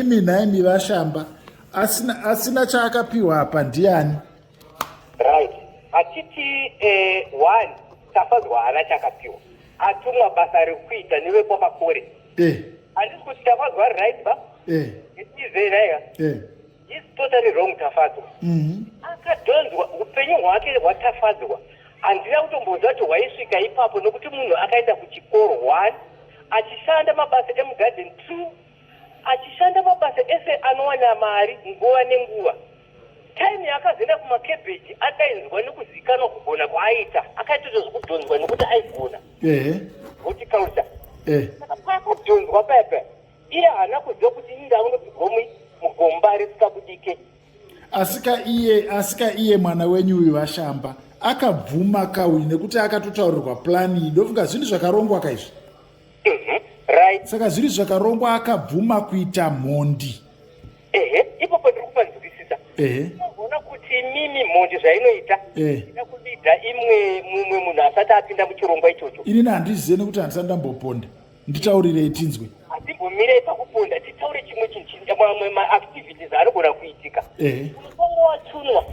imi nhaimi vashamba asina, asina chaakapiwa apa ndiani right hatiti eh, one tafadzwa haana chakapiwa atumwa basa rekuita nevekwamakore eh. handisi eh. kuti tafadzwa ari right ba eh. itizenaiga eh. is totally wrong tafadzwa mm -hmm. akadhonzwa upenyu hwake hwatafadzwa handina kutombonzwa kuti hwaisvika ipapo nokuti munhu akaenda kuchikoro one achishanda mabasa emugarden two achishanda mabasa ese anowana mari nguva nenguva time yaakazoenda kumakebheji akainzwa nekuzikanwa kugona kwaaita akaitoita zvekudhonzwa nekuti aigona kuti kauta pakadhonzwa paya paya iye haana kuziva kuti inda unopigomwi mugomba risikabudike asika iye asika iye mwana wenyu uyu vashamba akabvuma kauyu nekuti akatotaurirwa plani idofunga zvinhu zvakarongwa kaizvi ehe right saka zviri zvakarongwa akabvuma kuita mhondi ehe ipo pandiri kupanzwisisa ehe unoona kuti mimi mhondi zvainoita Eh. ida kuviga imwe mumwe munhu asati apinda muchirongwa ichocho inini handizive nekuti handisati ndamboponda nditaurirei tinzwe hatimbomirei pakuponda titaure chimwe chinhu chini- mamwe maactivities anogona kuitika ehe mutongo watunwa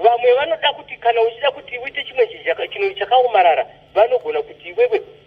vamwe vanoda kuti kana uchida kuti uite chimwe chinhu chaka- chinhu chakaomarara vanogona kuti iwewe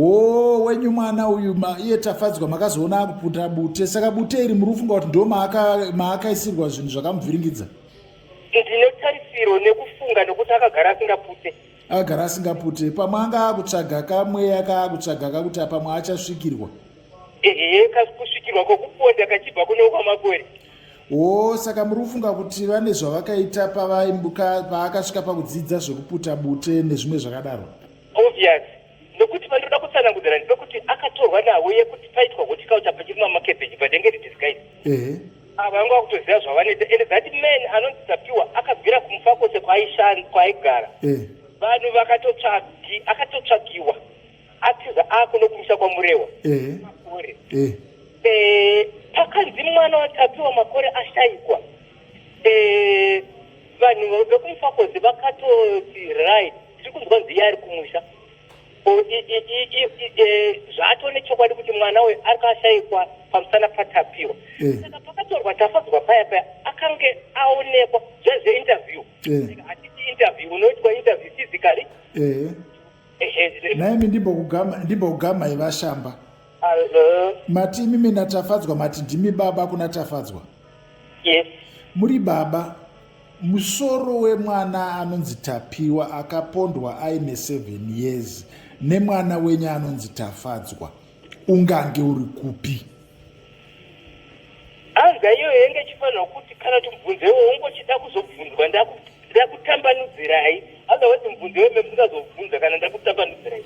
oo wenyu mwana uyu iye tafadzwa makazoona akuputa bute saka bute iri murufunga kuti ndo maakaisirwa zvinhu zvakamuvhiringidza ndine tarisiro nekufunga nekuti akagara asingapute akagara asingapute pamwe anga akutsvaga kamweya kaakutsvaga kakuti apamwe achasvikirwa ehe kakusvikirwa kokuponda kachibva kune ukwamakore oo saka muri kufunga kuti vane zvavakaita paakasvika pakudzidza zvekuputa bute nezvimwe zvakadaro Obvious nokuti vanoda kutsanangudzira ndipo kuti akatorwa navo yekuti paitwa hotikauta pachirimwa makebeji padenge ridisguise ehe ava vanga vakutoziva zvavanoita and that man anonzi tapiwa akabvira kumufa kwose kwaaishanda kwaaigara eh vanhu vakatotsvagi akatotsvagiwa atiza ako nokumusha kwamurewa ehe makore eh Eh, pakanzi mwana watapiwa makore ashaikwa eh, vanhu vekumufakozi vakatoti right tiri kunzwa nziya ari kumusha zvaatone chokwadi kuti mwana uyu ari kashaikwa pamusana patapiwa eh. saka pakatorwa tafadzwa paya paya akange aonekwa zvezveinterview eh. hatiti interview unoitwa interview physically naimi ndimbokugamai vashamba Hello. Mati imi mina Tafadzwa mati ndimi baba kuna Tafadzwa? Yes. Muri baba. Musoro wemwana anonzi Tapiwa akapondwa aine 7 years nemwana wenyu anonzi Tafadzwa. Ungange uri kupi? Anzwa iyoyo yenge chifanira kuti kana timubvunzewo ungochida kuzobvunzwa ndakutambanudzirai otherwise mubvunze weme musingazobvunza kana ndakutambanudzirai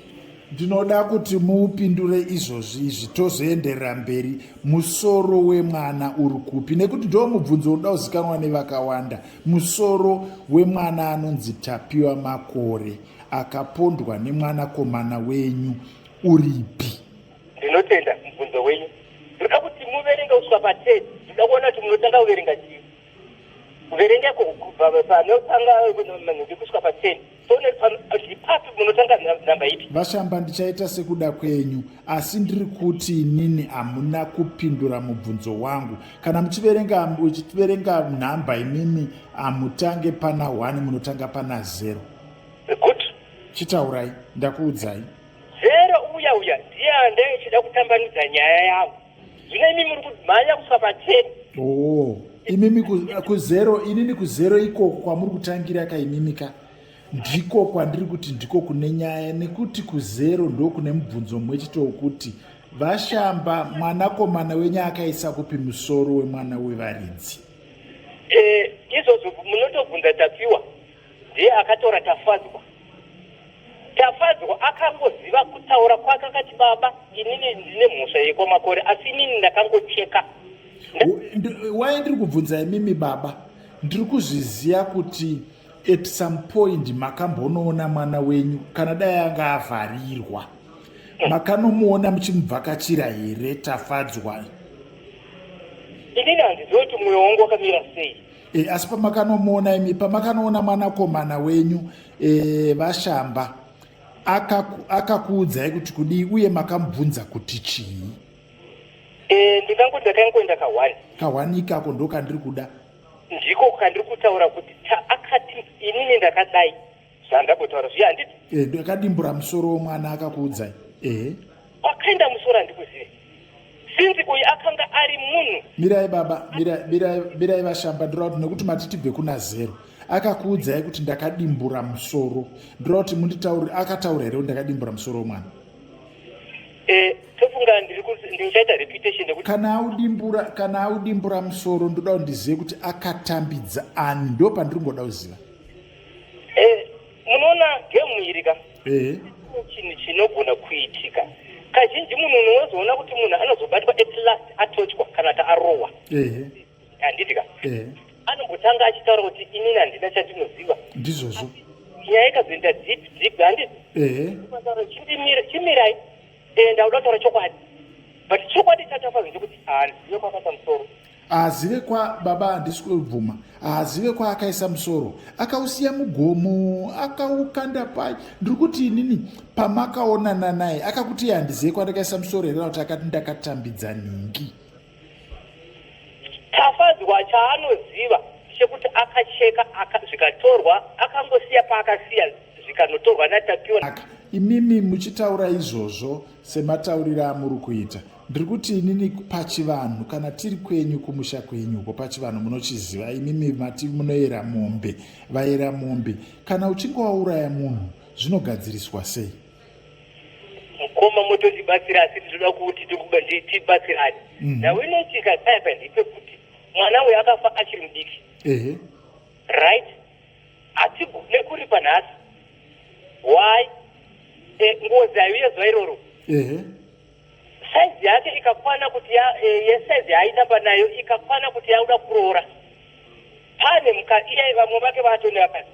ndinoda kuti muupindure izvozvi izvi tozoenderera mberi musoro wemwana uri kupi nekuti ndo mubvunzo unoda kuzikanwa nevakawanda musoro wemwana anonzi tapiwa makore akapondwa nemwanakomana wenyu uripi Ndinotenda mubvunzo wenyu. Ndinoda kuti muverenge kusvika pa 10. Ndinoda kuona kuti munotanga kuverenga chii. Kuverenga ko kubva panotanga manhumbi kusvika pa 10. Papi munotanga nhamba ipi? Vashamba, ndichaita sekuda kwenyu, asi ndiri kuti inini hamuna kupindura mubvunzo wangu. Kana muchiverenga uchiverenga nhamba imimi hamutange pana 1 munotanga pana 0. Chitaurai, ndakuudzai. Zero uya uya ndiye ande echida kutambanudza nyaya yavo. Zvino imi muri kumhanya kusvika pacheni. Oh, imimi kuzero inini kuzero ikoko kwamuri kutangira ka imimi ka ndiko kwandiri kuti ndiko kune nyaya nekuti kuzero ndokune mubvunzo mumwe chete wokuti vashamba mwanakomana wenyu akaisa kupi musoro wemwana wevaridzi eh, izvozvo munotobvunza tapiwa ndiye akatora tafadzwa tafadzwa akangoziva kutaura kwake akati baba inini ndine mhosva yekwamakore asi inini ndakangocheka waye ndiri kubvunza imimi baba ndiri kuzviziva kuti at some point makambonoona mwana wenyu kana dai anga avharirwa makanomuona muchimubvakachira here tafadzwa inini handiziva kuti mwoyo wangu wakamira sei e, asi pamakanomuona imi pamakanoona mwanakomana wenyu e, vashamba akakuudzai aka kuti kudii uye makamubvunza kuti chii e, ndingangoda kangoenda kahwani kahwani ikako ndo kandiri kuda ndiko kandiri kutaura kuti chaakati inini ndakadai zvandambotaura zviya handiti eh, ndakadimbura musoro womwana akakuudzai ehe wakaenda musoro handikuzive sinzi uyu akanga ari munhu mirai baba mirai vashamba ndira kuti nekuti mati tibve kuna zero akakuudzai kuti ndakadimbura musoro ndira kuti munditauri akataura here kuti ndakadimbura musoro womwana eh, tofunga ndichaita reputation nekuti kana audimbura kana audimbura musoro ndoda kuti ndizive kuti akatambidza ani ndo pandiri ngoda kuziva Eh, munoona gemu iri ka eh. chinhu chinogona kuitika kazhinji munhu unozoona kuti munhu anozobatwa at last atochwa kana kuti arohwa eh. handiti ka anombotanga achitaura kuti inini handina chatinoziva ndizvozvo nyaya ikazoenda deep deep handiti chimirai ndakuda kutaura chokwadi but chokwadi chatafa zvokuti handina kwakata musoro haazive kwa baba handisi kubvuma haazive kwaakaisa musoro akausiya mugomo akaukanda pai ndiri kuti inini pamakaonana naye akakuti iye handizive kwandakaisa musoro here kuti akati ndakatambidza nhingi tafadzwa chaanoziva chekuti akacheka zvikatorwa akangosiya paakasiya zvikanotorwa natapiwa imimi muchitaura izvozvo sematauriro amuri kuita ndiri kuti inini pachivanhu kana tiri kwenyu kumusha kwenyu uko pachivanhu munochiziva imimi mati munoyera mombe vayera mombe kana uchinge wauraya munhu zvinogadziriswa sei mukoma mototibatsira asi tinoda kuti tibatsirani mhm. now inoitika saipa ndipe kuti mwana uyo akafa achiri mudiki right hatigone kuripa nhasi why eh, ngozi ayo yezuva iroro size yake ikakwana kuti ya, e, eh, yesize yaitamba nayo ikakwana kuti yauda kuroora pane muka iye vamwe vake vaatone vakati